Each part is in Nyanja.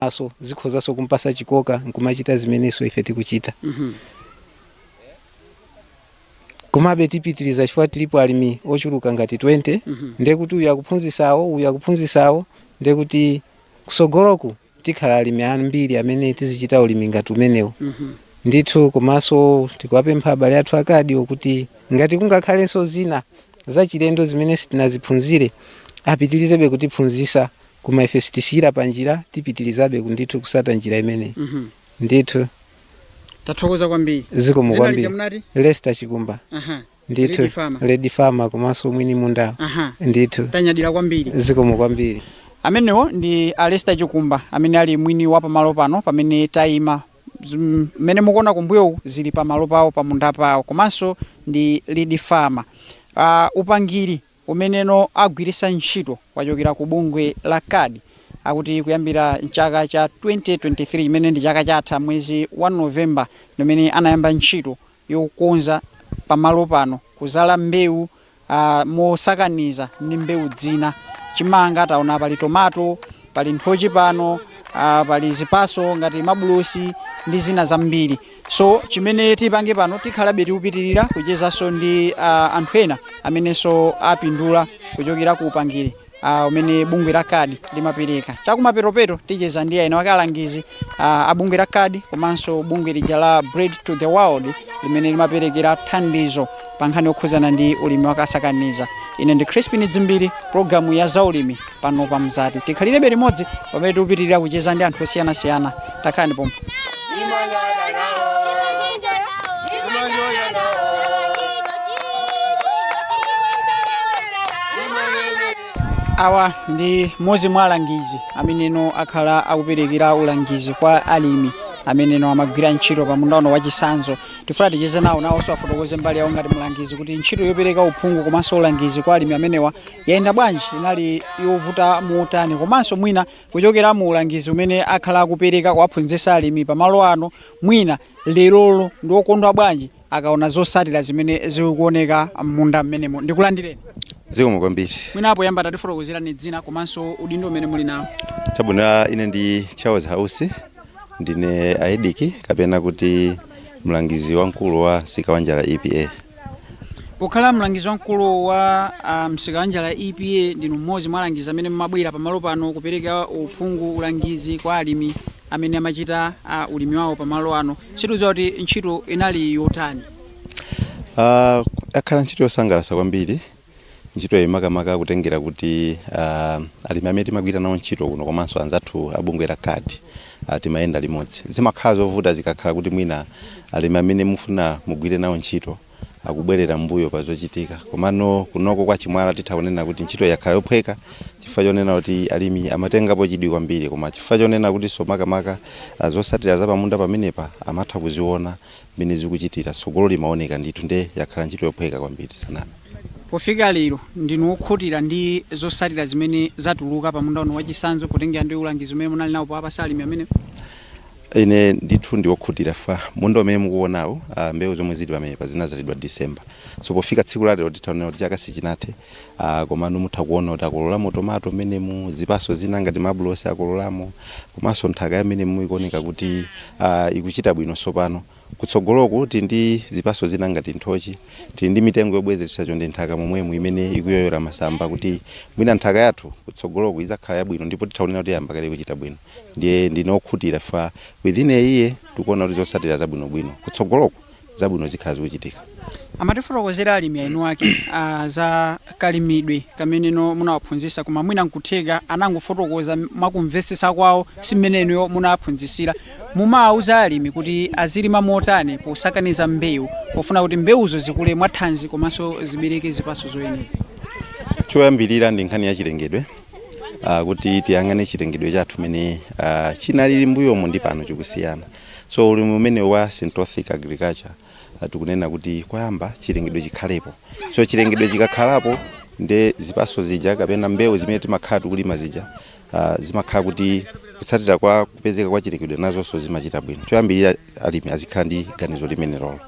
komanso zikhozanso kumpasa chikoka nkumachita zimenenso ife tikuchita komabe tipitiriza chifukwa tilipo alimi ochuluka ngati 20 ndekuti uyu akuphunzisawo uyu akuphunzisawo ndekuti kusogoloku tikhala alimi ambiri amene tizichita ulimi ngati umenewu ndithu komanso tikuwapempha abale athu a Kadiwo kuti ngati kungakhalenso zina zachilendo zimene sitinaziphunzire apitirizebe kutiphunzisa Koma ife sitisiyira panjira, tipitilizabe ndithu kusata njira imeneyi. Mhm. Ndithu. Tathokoza kwambiri. Zikomo Dzina lija kwambiri. munati? Lester Chikumba. Aha. Ndithu. Lead Farmer. Lead Farmer komanso mwini mundawo. Aha. Ndithu. Tanyadira kwambiri. Zikomo kwambiri. amenewo ndi a Lester Chikumba amene ali mwini wa pamalo pano pamene tayima mmene mukuona kumbuyoku zili pamalo pawo pamunda pawo komanso ndi lead farmer uh, upangiri umeneno agwirisa ntchito wachokera ku bungwe la Kadi akuti kuyambira mchaka cha 2023 chimene ndi chaka chatha mwezi wa November ndimene anayamba ntchito yokonza pamalo pano kuzala mbewu mosakaniza ndi mbewu zina chimanga taona pali tomato pali nthochi pano pali zipaso ngati mabulosi ndi zina zambiri. so chimene tipange pano tikhalabe tikupitirira kuchezanso ndi uh, anthu ena amenenso apindula kuchokera ku upangiri uh, umene bungwe la kadi limapereka chakumapetopeto ticheza ndi ena mwa alangizi uh, a bungwe la kadi komanso bungwe lija la bread for the world limene limaperekera thandizo pa nkhani yokhuzana ndi ulimi wakasakaniza ine ndi crispin dzimbiri programu ya zaulimi pano pa mzati tikhalirebe limodzi pamene tikupitirira kucheza ndi anthu osiyanasiyana takhalani pompa awa ndi mmodzi mwa alangizi ameneno akhala akuperekera ulangizi kwa alimi ameneno amagwira ntchito pa munda uno wachisanzo tifuna ticheze nawo nawonso afotokoze mbali yawo ngati mlangizi kuti ntchito yopereka uphungu komanso ulangizi kwa alimi amenewa Yayenda bwanji, inali yovuta motani komanso mwina kuchokera mu ulangizi umene akhala akupereka kuwaphunzitsa alimi pa malo ano, mwina lerolo ndi okondwa bwanji akaona zotsatira zimene zikuoneka m'munda m'menemo. Ndikulandireni. Zikomo kwambiri. Mwina poyamba tatifotokozereni dzina komanso udindo umene muli nawo. Chabwino, ine ndi Charles House, ndine AEDC kapena kuti mlangizi wamkulu wa Msika wa Njala EPA. pokhala mlangizi wamkulu wa ah, msika wa njala epa ndinu mmodzi mwa alangizi amene mumabwera pamalo pano kupereka uphungu ulangizi kwa alimi amene amachita ah, ulimi wawo pamalo ano sitidziwa kuti ntchito inali yotani Ah, yakhala ntchito yosangalatsa kwambiri ntchitoyi makamaka kutengera kuti uh, alimi amene timagwira nawo ntchito kuno komanso anzathu abungwe la CARD uh, timayenda limodzi zimakhala zovuta zikakhala kuti mwina alimi amene mufuna mugwire nawo ntchito akubwerera mbuyo pa zochitika komano kunoko kwa chimwala titha kunena kuti ntchito yakhala yophweka chifukwa chonena kuti alimi amatengapo chidwi kwambiri koma chifukwa chonena kutinso makamaka zotsatira za pamunda pamenepa amatha kuziona mmene zikuchitira, tsogolo limaoneka ndithu nde yakhala ntchito yophweka kwambiri sinanama. Pofika lero, ndinu okhutira ndi zotsatira zimene zatuluka pa munda uno wachitsanzo potengera ndi ulangizi umene munali nawo powapatsa alimi amenewa? Ine ndithu ndi wokhutira chifukwa munda umene mukuonawu, mbewu zomwe zili pamenepa zinadzalidwa December. So pofika tsiku la lero titha kunena kuti chaka sichinathe. Aaa komano mutha kuona kuti akololamo tomato mmenemu, zipatso zina ngati mabulosi akololamo komanso nthaka ya mmenemu ikuoneka kuti aah ikuchita bwino tsopano. Kutsogoloku tili ndi zipatso zina ngati nthochi. Tili ndi mitengo yobwezeretsa chonde mnthaka momwemu imene ikuyoyola masamba kuti mwina nthaka yathu kutsogoloku idzakhala yabwino ndipo titha kunena kuti yayamba kale kuchita bwino. Ndiye ndine wokhutira chifukwa within a year tikuona kuti zotsatira zabwinobwino kutsogoloku. zabwino zikhala zikuchitika. Amatifotokozera alimi eni ake a za kalimidwe kamene inu munawaphunzitsa koma mwina nkutheka anangofotokoza mwakumvetsetsa kwawo si mmene inuyo munawaphunzitsira. Mumawauza alimi kuti azilima motani posakaniza mbewu pofuna kuti mbewuzo zikule mwathanzi komanso zibereke zipatso zoyenera. Choyambirira ndi nkhani ya chilengedwe uh, kuti tiyang'ane chilengedwe chathu mmene uh, chinalili mbuyomu ndi pano chikusiyana. So ulimi umenewu wa syntropic agriculture tikunena kuti koyamba chilengedwe chikhalepo. So chilengedwe chikakhalapo nde zipatso zija kapena mbewu zimene timakhala tikulima zija zimakhala kuti kutsatira kwa kupezeka kwa chilengedwe nazonso zimachita bwino. Choyambirira alimi azikhala ndi ganizo limenelolo.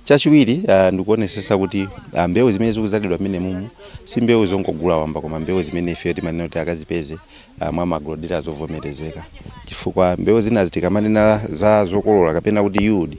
Chachiwiri ndikuonetsetsa kuti mbewu zimene zikudzalidwa mmenemumu si mbewu zongogula wamba koma mbewu zimene ifeyo timanena kuti akazipeze mwa ma agro dealers ovomerezeka chifukwa mbewu zinazi tikamanena za zokolola kapena kuti yield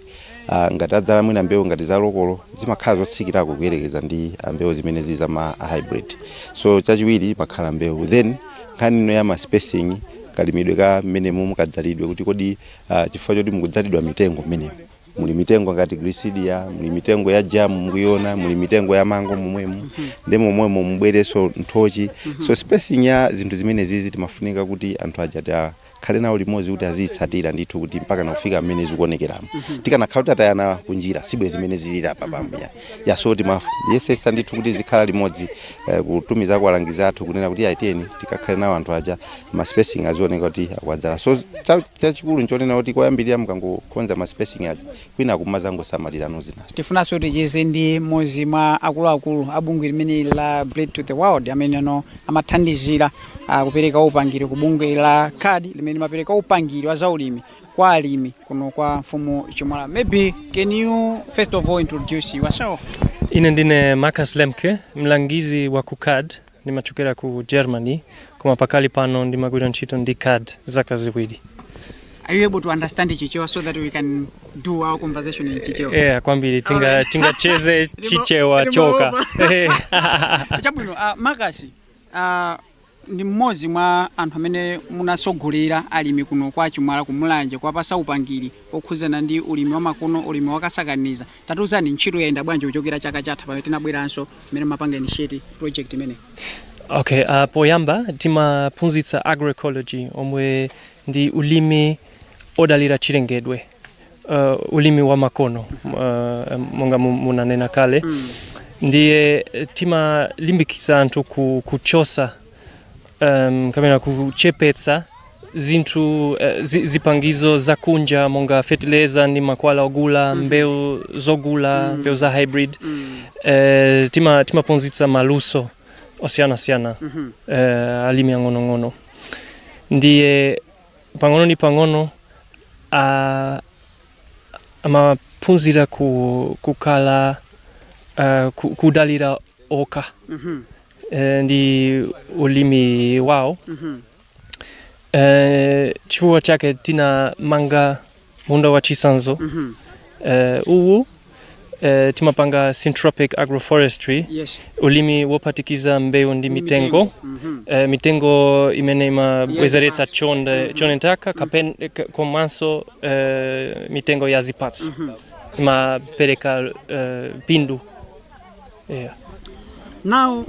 ngati adzala mwina mbewu ngati za lokolo zimakhala zotsikirako kuyerekeza ndi mbewu zimene zili za ma hybrid so chachiwiri imakhala mbewu then nkhani ino ya ma spacing kalimidwe ka mmenemumu kadzalidwe kuti kodi uh, chifukwa choti mukudzalidwa mitengo mmenemo muli mitengo ngati gliricidia muli mitengo ya jamu mukuyiona muli mitengo ya mango momwemo mm -hmm. ndi momwemo mubwerenso nthochi mm -hmm. so spacing ya zinthu zimenezizi timafunika kuti anthu aja tikhale nawo limodzi kuti aziyitsatira ndithu kuti mpaka nakufika mmene zikuonekeramo mm -hmm. tikanakhala kuti atayana kunjira sibwezi mmene zilili apa pambuya ya so timafu yesetsa ndithu kuti tizikhala limodzi eh, kutumiza kwa alangizi athu kunena kuti aiteni tikakhale nawo anthu aja ma spacing azioneka kuti akwadzala so Chachikulu nchonena kuti koyambirira mukangokonza ma spacing aja kwinaku mumazangosamalirano zinazo. Tifunanso ticheze ndi mmodzi mwa akuluakulu a bungwe limeneli la Bread for the World ameneno amathandizira ah, kupereka upangiri ku bungwe la CARD limene limapereka upangiri wa zaulimi kwa alimi kuno kwa mfumu Chimwala. Maybe can you first of all introduce yourself? Ine ndine Marcus Lemke, mlangizi wa ku CARD Ndimachokera ku Germany koma pakali pano ndimagwira ntchito ndi CARD zaka ziwiri. Are you able to understand Chichewa so that we can do our conversation in Chichewa? Yeah, kwambiri tinga Alright. tingacheze Chichewa choka. Eh. Chabwino, uh, Marcus uh, ndi mmodzi mwa anthu amene munatsogolera alimi kuno kwa Chimwala ku Mulanje kuwapasa upangiri okhuzana ndi ulimi wa makono, ulimi wakasakaniza Tatiuzani ntchito yayenda bwanji kuchokera chaka chatha pamene tinabweranso mmene mumapanga initiate project imeneyi? Okay, uh, poyamba timaphunzitsa agroecology omwe ndi ulimi odalira chilengedwe uh, ulimi wa makono uh, monga mu- munanena kale ndiye eh, timalimbikitsa anthu ku, kuchosa um, kapena kuchepetsa zinthu uh, zi, zipangizo za kunja monga fetileza ndi makwala ogula mm -hmm. mbewu zogula mm. mbewu za hybrid mm. uh, tima timaphunzitsa maluso osiyanasiyana mm -hmm. uh, alimi ang'onong'ono ndiye pang'ono ndi pang'ono uh, amaphunzira ku, kukhala uh, ku, kudalira okha mm -hmm. eh, ndi ulimi wawo eh, chifukwa chake tinamanga munda wa chisanzo eh, uwu eh, timapanga syntropic agroforestry yes ulimi wopatikiza mbewu ndi mitengo eh, mitengo imene imabwezeretsa chonde nthaka kapen ka- komanso eh, mitengo ya zipatso imapereka eh, pindu yeah. now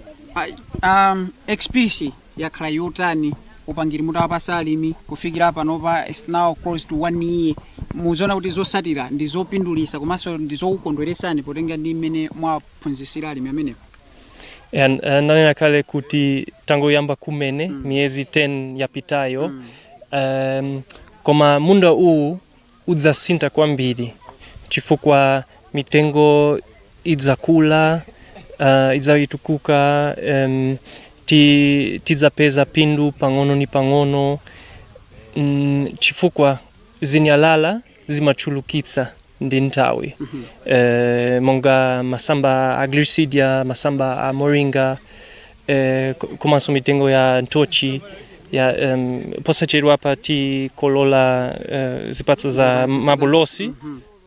um, experience yakhala yotani upangiri mutawapasa alimi kufikira panopa it's now close to one year muziona kuti zosatira ndi zopindulisa komanso ndi zokukondweresani potengera ndi mmene mwaphunzisira alimi amenewo and uh, nanena kale kuti tangoyamba kumene mm. miyezi 10 yapitayo mm. um, koma munda uwu udzasintha kwambiri chifukwa mitengo idzakula uh, idzayitukuka um, ti, tidzapeza pindu pang'ono ni pang'ono mm, chifukwa zinyalala zimachulukitsa ndi nthawi eh, monga masamba a gliricidia masamba a moringa eh, ko- komanso mitengo ya nthochi ya um, posachedwa apa tikolola eh, zipatso za mabulosi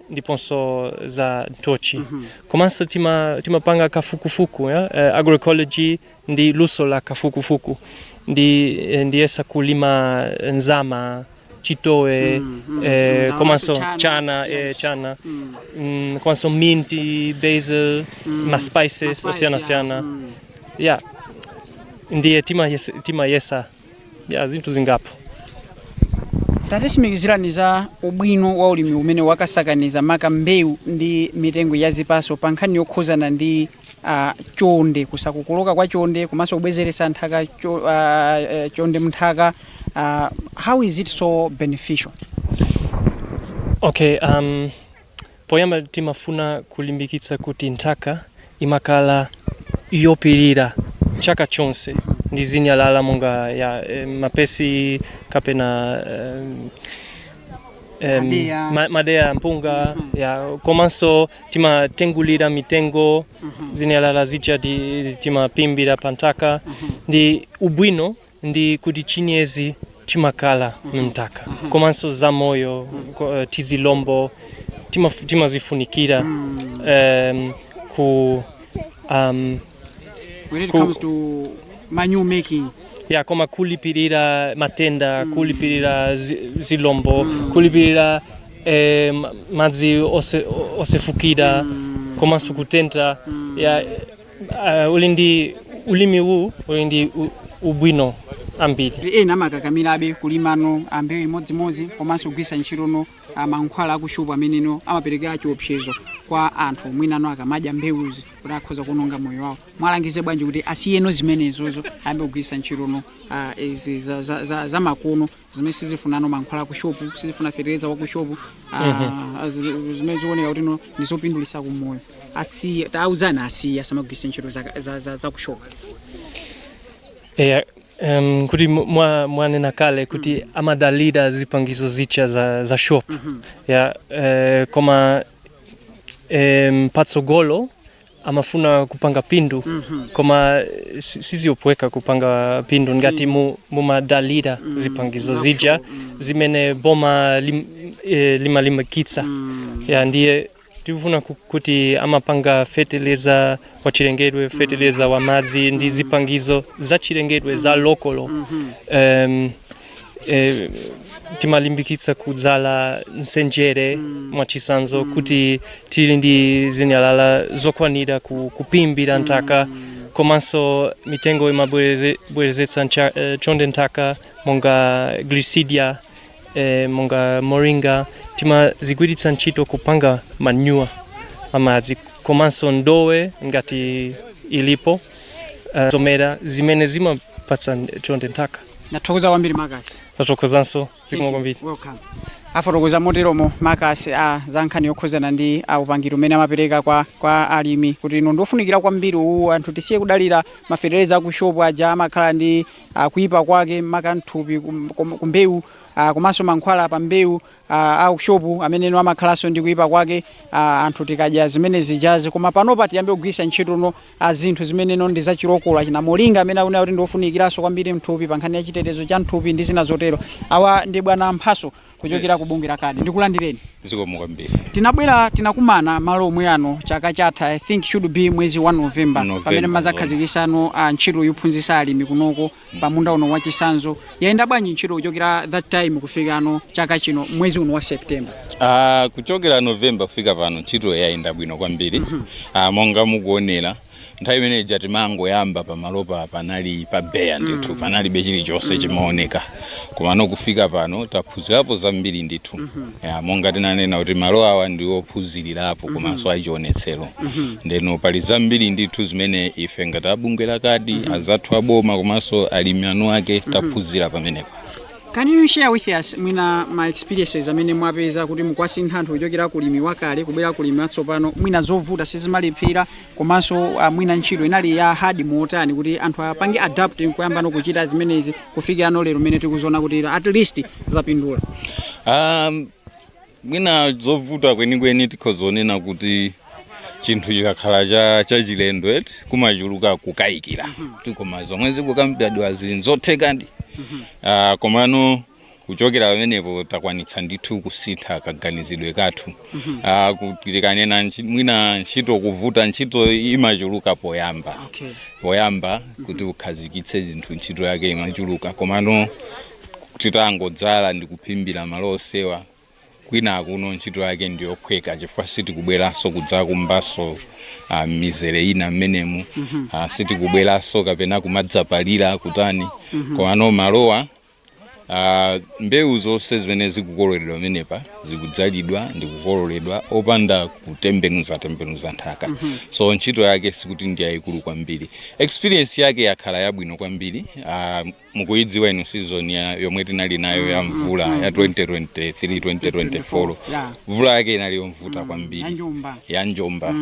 ndiponso za nthochi komanso tima, timapanga kafukufuku ya eh, agroecology ndi luso la kafukufuku ndi eh, ndiyesa kulima nzama chitowe Mm, mm, eh, ndaonanso komanso chana, chana eh, yes. chana Mm. mm, komanso minti basil Mm. ma spices ma spices, osiyana yeah. siyana Mm. yeah ndiye timayesa timayesa yeah zinthu zingapo tatitsimikizirani za ubwino wa ulimi umenewu wakasakaniza maka mbewu ndi mitengo ya zipatso pa nkhani yokhuzana ndi a chonde kusakokoloka kwa chonde komanso kubwezeretsa nthaka cho, uh, uh, chonde mnthaka uh, how is it so beneficial okay um, poyamba timafuna kulimbikitsa kuti nthaka imakhala yophimbira chaka chonse ndi zinyalala monga ya eh, mapesi kapena eh, em, Madeya. ma- madeya mpunga Mhm. ya komanso timatengulira mitengo Mhm. zinyalala zija ti- timaphimbira pa nthaka Mhm. ndi ubwino ndi kuti chinyezi chimakhala mnthaka komanso zamoyo ko- eh, tizilombo timaf- timazifunikira Mm. em, ku um, When it Ku- comes to manure making, ya koma kulipirira matenda kulipirira zi- zilombo kulipirira eh, ma- madzi ose- osefukira komanso kutentha ya eh, uli ndi ulimi uwu uli ndi u- ubwino ambiri ena amakakamirabe kulimano mbewu imodzimodzi komanso kugwiritsa ntchito no a mankhwala akushopu ameneno amapereka chiopsezo kwa anthu mwinano akamadya mbewuzi kuti akhoza kuononga moyo wawo muwalangize bwanji kuti asiyeno zimenezozo ayambe kugwiritsa ntchitono ah, izi za- za- za- za makono zimene sizifunano mankhwala akushopu sizifuna fetereza wakushopu ah, zi- zimene zioneka kuti no ndi zopindulitsa ku moyo asiye tauzani asiye asamagwiritse ntchito za- za- za- za kushopu eya Um, kuti mwa, mwanena kale kuti mm. amadalira zipangizo zija za, za shop mm -hmm. ya eh, koma um, patsogolo amafuna kupanga phindu mm -hmm. koma sizophweka kupanga phindu ngati mm. mu, mumadalira mm -hmm. zipangizo zija mm -hmm. zimene boma lim, eh, limalimbikitsa mm -hmm. ya ndiye tifuna ku- kuti timapanga feteleza wa chilengedwe feteleza wa madzi ndi zipangizo za chilengedwe za lokolo um, eh, timalimbikitsa kudzala nsenjere mwachisanzo kuti tili ndi zinyalala zokwanira ku, kuphimbira nthaka komanso mitengo imabwerezetsa ncha- eh, chonde nthaka monga glisidia e, monga moringa timazigwiritsa ntchito kupanga manyuwa amadzi komanso ndowe ngati ilipo e, zomera zimene zimapatsa chonde nthaka ndathokoza kwambiri makasi tathokozanso zikomo kwambiri welcome afotokoza moteromo makasi a za nkhani yokhuzana ndi a upangiri umene amapereka kwa, kwa alimi kuti ino ndiofunikira kwambiri uwu anthu tisiye kudalira mafeteleza aku shopu aja amakhala ndi ah, kuipa kwake maka mthupi kum- kum- kumbewu ah, komanso mankhwala pa mbewu ah, aku shopu amene no amakhalanso ndi kuipa kwake ah, anthu tikadya zimene zijazi koma panopa tiyambe kugwiritsa ntchito no ah, zinthu zimene no ndi zachilokola cha moringa amene akunena kuti ndiofunikiranso kwambiri mthupi pa nkhani ya chitetezo cha mthupi ndi zina zotero awa ndi bwana mphaso kuchokera ku bungwe la kadi ndikulandireni zikomo kwambiri tinabwera tinakumana malo omwe ano chaka chatha i think should be mwezi wa november pamene mmazakhazikisano a ntchito yophunzitsa alimi kunoko pa munda uno wachisanzo yayenda bwanji ntchito kuchokera that time kufika pano chaka chino mwezi uno wa september Ah, kuchokera novemba kufika pano ntchito yayenda bwino kwambiri Ah, monga mukuonera nthawi imene ija timangoyamba pamalopa panali pa beya ndithu mm. panalibe chilichonse mm. chimaoneka komano kufika pano taphunzirapo zambiri ndithu mm -hmm. ya, monga tinanena kuti malo awa ndi ophunzirirapo mhm. komanso mm -hmm. achionetsero mm -hmm. ndeno pali zambiri ndithu zimene ife ngati abungwe lakadi mm -hmm. azathu aboma komanso alimi eni ake mhm. taphunzira pamenepo Can you share with us mwina ma experiences amene mwapeza kuti mukwasintha anthu kuchokera kulimi wakale kubwera kulimi watsopano mwina zovuta sizimalephera komanso uh, mwina ntchito inali ya hard motani kuti anthu apange adapt nkuyamba nokuchita zimenezi kufikira no lero mmene tikuziona kuti at least zapindula Um, mwina zovuta kwenikweni tikhoza kunena kuti chinthu chikakhala cha chachilendo eti kumachuluka kukayikira kuti koma zomwe zikukambidwazi nzothekadi Ah, komano kuchokera pamenepo takwanitsa ndithu kusintha kaganizidwe kathu Ah, kuti tikanena ntchi- mwina ntchito kuvuta ntchito imachuluka poyamba Okay. poyamba kuti ukhazikitse zinthu ntchito yake imachuluka komano titangodzala ndi kuphimbira malo onsewa kwina kuno ntchito yake ndi yophweka chifukwa sitikubweranso kudzakumbanso uh, mizere ina mmenemu uh, sitikubweranso kapena kumadzapalira kutani komano malowa uh, mbewu zonse zimene zikukololedwa pamenepa zikudzalidwa ndi kukololedwa opanda kutembenuza tembenuza nthaka so ntchito yake sikuti ndi yayikulu kwambiri experience yake yakhala yabwino kwambiri uh, mukuyidziwa inu season ya yomwe tinali nayo ya mvula ya 2023 2024 Yeah. mvula yake inali yovuta kwambiri ya njomba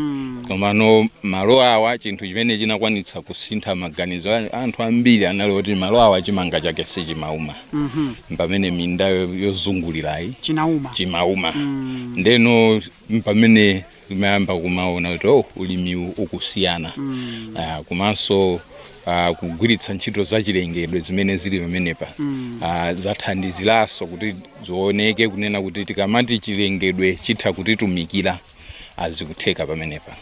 komano malo awa chinthu chimene chinakwanitsa kusintha maganizo a- anthu ambiri anali woti malo awa chimanga chake sichimauma pamene minda yo- yozungulirayi Chinauma. chimauma ndeno pamene amayamba kumaona kuti oh, ulimiwu ukusiyana mm. uh, komanso uh, kugwiritsa ntchito zachilengedwe zimene zili pamenepa mm. uh, zathandiziranso kuti zioneke kunena kuti tikamati chilengedwe chitha kutitumikira zikutheka pamenepa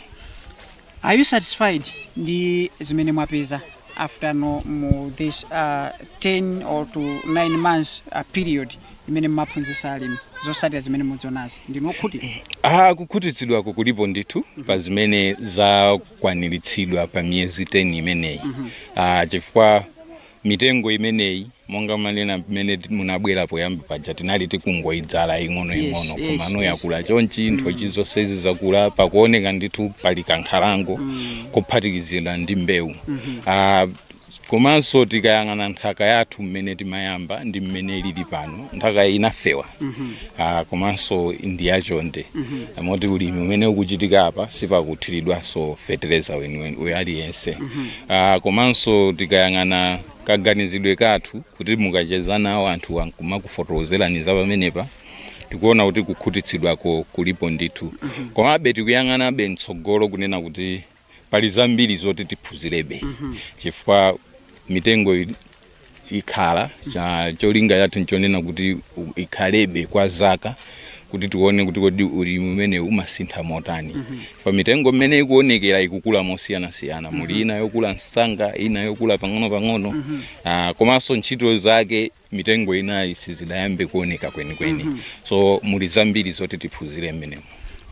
Are you satisfied ndi zimene mwapeza after now mu this uh, 10 or to 9 months uh, period imene mumaphunzitsa alimi zotsatira zimene mukuzionazi ndinu okhutira Ah, kukhutitsidwako kulipo ndithu pa zimene zakwaniritsidwa pa miyezi 10 imeneyi ah, chifukwa Mitengo imeneyi monga mwanena mmene munabwera poyamba paja tinali tikungoidzala ing'onoing'ono yes, komano yes, yakula yes. chonchi mm. nthochi zonsezi zakula pakuoneka ndithu pali kankhalango mm. kophatikizidwa ndi mbewu mm -hmm. uh, komanso tikayang'ana nthaka yathu mmene timayamba ndi mmene ilili pano nthaka inafewa mm -hmm. uh, komanso ndi yachonde mm -hmm. moti ulimi umene ukuchitika apa sipakuthiridwanso fetereza weniweni uja aliyense mm -hmm. Aaa komanso tikayang'ana kaganizidwe kathu kuti mukacheza nawo anthuwa nkumakufotokozerani za pamenepa tikuona kuti kukhutitsidwako kulipo ndithu komabe tikuyang'anabe mtsogolo kunena kuti pali zambiri zoti tiphunzirebe chifukwa mitengo ili ikhala cha cholinga chathu nchonena kuti u- ikhalebe kwa zaka kuti tione kuti kodi ulimi umenewu umasintha motani fa mitengo mmene ikuonekera ikukula mosiyanasiyana muli ina yokula msanga ina yokula pang'onopang'ono Ah, komanso ntchito zake mitengo inayi sizidayambe kuoneka kwenikweni so muli zambiri zoti tiphunzire mmenemo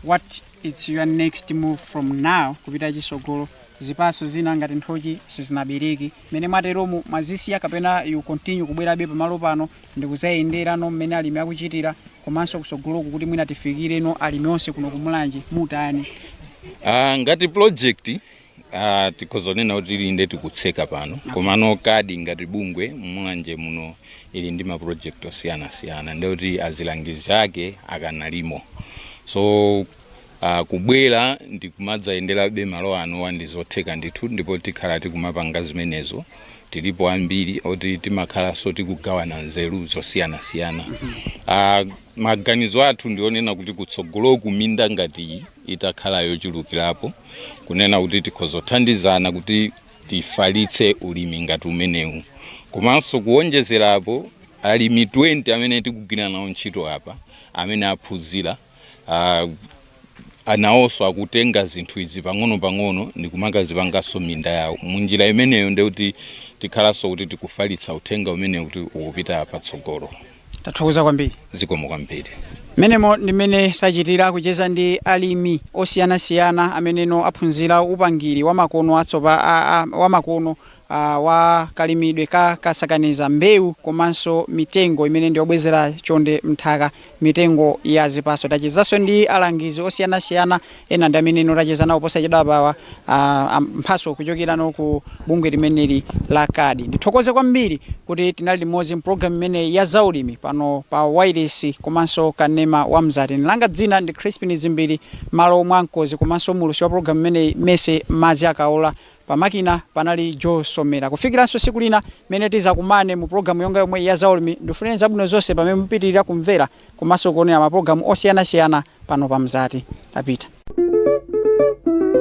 what is your next move from now kupita chitsogolo zipatso zina ngati nthochi sizinabereke Mmene mwateromu mwazisiya kapena you continue kubwerabe pamalo pano ndikuzayenderano mmene alimi akuchitira komanso kusogoloku kuti mwina tifikireno alimi onse kuno ku Mulanje mutani? Uh, ngati project uh, tikhoza kunena kuti ili nde tikutseka pano okay. Komano card ngati bungwe Mulanje muno ili ndi ma project osiyanasiyana nde kuti azilangizi ake akanalimo so a Kubwera ndi kumadzayenderabe malo ano ndi zotheka ndithu ndipo tikhala tikumapanga zimenezo. Tilipo ambiri oti timakhalanso tikugawana nzeru zosiyanasiyana. a Maganizo athu ndi onena kuti kutsogoloku minda ngati iyi itakhala yochulukirapo, kunena kuti tikhoza kuthandizana kuti tifalitse ulimi ngati umenewu. Komanso kuwonjezera apo, alimi 20 amene tikugwira nawo ntchito apa amene aphunzira, uh, anawoso akutenga zinthu izi pang'ono-pang'ono ndi kumakazipangaso minda yawo munjira imeneyo ndi kuti tikhalanso kuti tikufalitsa uthenga umenewu kuti ukupita patsogolo tathokoza kwambiri zikomo kwambiri mmenemo ndi mmene tachitira kucheza ndi alimi osiyanasiyana ameneno aphunzira upangiri wamakono atsopa a- a- wamakono a wa kalimidwe ka kasakaniza mbewu komanso mitengo imene ndi yobwezera chonde m'nthaka, mitengo ya zipatso. Tachezanso ndi alangizi osiyanasiyana, ena ndi ameneno tacheza nawo posachedwapawa, a a Mphatso kuchokera no ku bungwe limeneli la card. Ndithokoze kwambiri kuti tinali limodzi m'programu imeneyi ya zaulimi pano pa wailesi komanso kanema wa Mzati. Ine langa dzina ndi Chrispin Dzimbiri, m'malo mwa mkonzi komanso muwulutsi wa programu imeneyi Mercy Madziakaola. Pamakina panali Joe Somera. Kufikiranso siku lina mmene tizakumane mu program yonga yomweyi ya Zaulimi, ndufunileni zabwino zonse pamene mupitirira kumvera komanso kuonera ma program osiyanasiyana pano pa Mzati. Tapita.